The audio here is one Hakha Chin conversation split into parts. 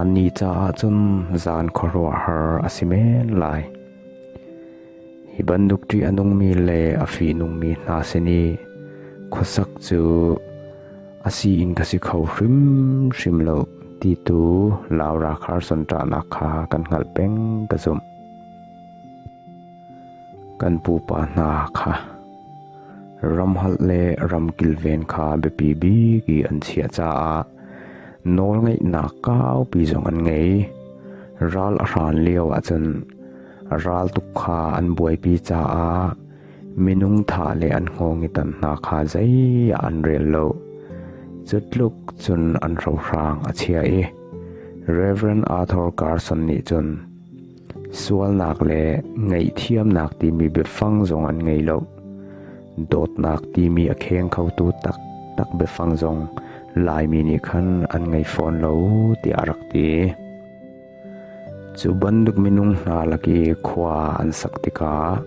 Annih caah cun zan khuaruahhar a si men lai. Hi bantuk ṭih a nungmi le a fihnungmi hna sin i khuasak cu a si in ka si kho hrimhrim lo ti tu Laura Carson ṭahnak kha kan hngalh peng ka zumh. Kan pupa hna kha ramholh le ram kilven kha biapi bik i an chiah caah nawlngeihnak kaupi zong an ngei. Ral a hran lio ahcun ral tuk kha an buaipi caah minung tha le an hngawngitan hna kha zeiah an rel lo. Cutluk cun an rohrang a chia i Reverend Arthur Carson nih cun Sualnak le ngaihthiamnak timi biafang zong an ngei lo. Dawtnak timi a kheng khotu taktak biafang zong Laimi nih khan an ngei fawn lo tiah a rak ti. Cu bantuk minung hna lak i khua an sak tikah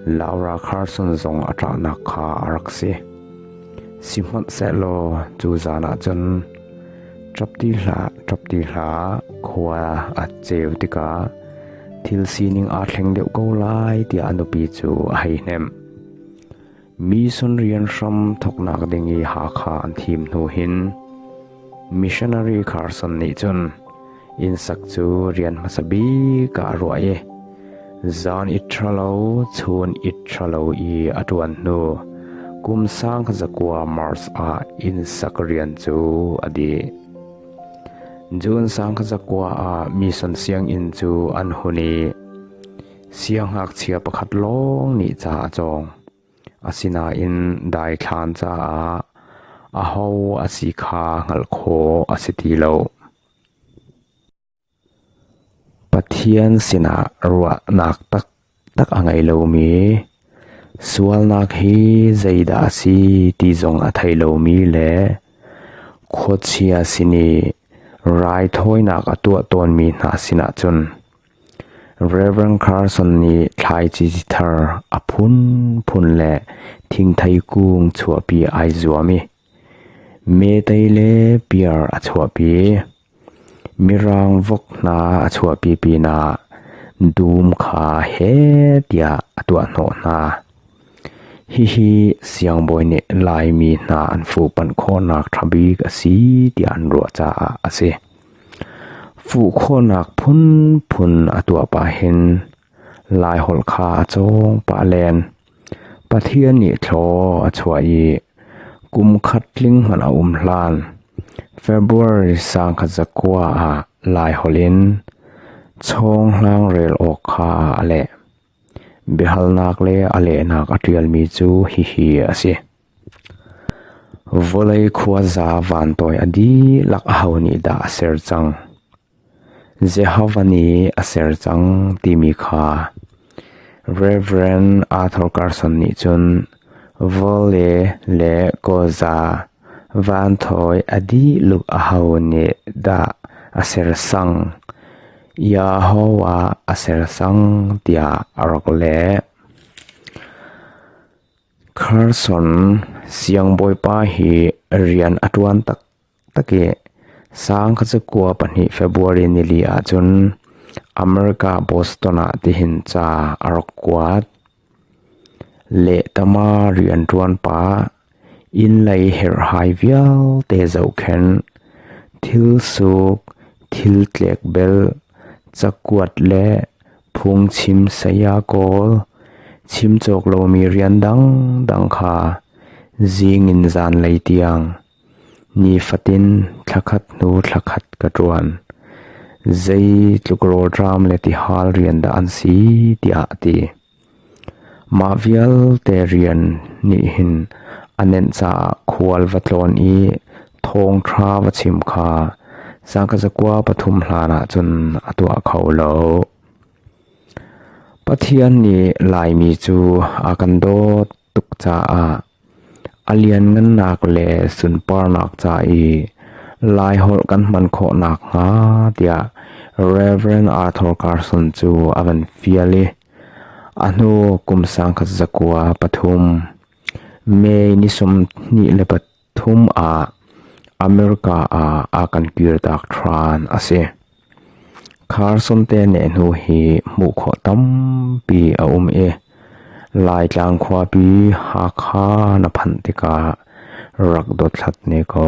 Laura Carson zong a ṭahnak kha a rak si. Sihmanhsehlaw cu zan ah cun Ṭap ti hlah, khua a ceu tikah thil sining aa thleng deuh ko lai tiah a nupi cu a hei hnemh. Mi sun rian hram thawknak ding i Hakha an thim hnu hin missionary Carson nih cun Innsak cu rian hmasa bik ah a ruah i zan it ṭhalo, chun it ṭhalo i a ṭuan hnu kum sang zakua Mars ah innsak rian cu a dih. June sang zakua ah mission sianginn cu an hun i siangngakchia pakhat lawng nih ca a cawng. Asinain daithlan caah aho a si kha hngalh khawh a si ti lo. Pathian sinah ruahnak taktak a ngei lomi, sualnak hi zeidah a si ti zong a thei lomi le khuachia sin i raithawinak a tuah tawnmi hna sinah cun Rev. Carson nih thlaici thar a phunphun le thingthei kung chuahpi ai zuam i Metei le piar a chuahpi, mirang vok hna a chuahpi pinah dum kha heh tiah a tuahhnawh hna. Hihi siangbawi nih Laimi hna an fuhpanh khawhnak ṭhabik a si tiah an ruah caah a si. Fuh khawhnak phunphun a tuah pahin Laiholh kha a cawng pah len. Pathian nih thlaw a chuah i kum khat tling hmanh a um hlan February sangkhat zakua ah Laiholh in chawnghlang rel awk kha a leh. Biahalnak le a lehnak a ṭialmi cu hihi a si. Vawlei khuaza vantawi a dihlak aho nih dah a ser cang? Jehovah nih a ser cang timi kha Rev. Arthur Carson nih cun vawle le kawza van thawi a dih luk aho nih dah a sersang? Jehovah a sersang tiah a rak leh. Carson siangbawipa hi rian a ṭuan taktak. Takeh, sang kha cu kua pahnih February nili ahcun America Boston ah tihin ca a rak kuat. Lehtama rianṭuan pa, innlei herhhai vialte zohkhenh, thilsuk, thiltlek bel, cakuat le phungchim saya kawl, chim cawk lomi rian dangdang kha zing in zanlei tiang. Nifatin thla khat hnu thla khat ka ṭuan. Zeitluk rawlṭam le tihal rian dah an si tiah a ti. Mah vialte rian nih hin a nenh caah khual va tlawn i thawngṭha va chim kha sangka zakua pathum hlanah cun a tuah kho lo. Pathian nih Laimi cu a kan dawt tuk caah A lianngannak le sunparnak ca i Laiholh kan hman khawh nakhnga tiah Rev. Arthur Carson cu a kan fial i a hnu kum sangkhat zakua pathum May ni sawmhnih le pathum ah America ah a kan kirtak ṭhan a si. Kharsonte nehhnu hi hmuh khawh tampi a um i Laitlang khuapi Hakha na phanh tikah rak dothlat ne ko.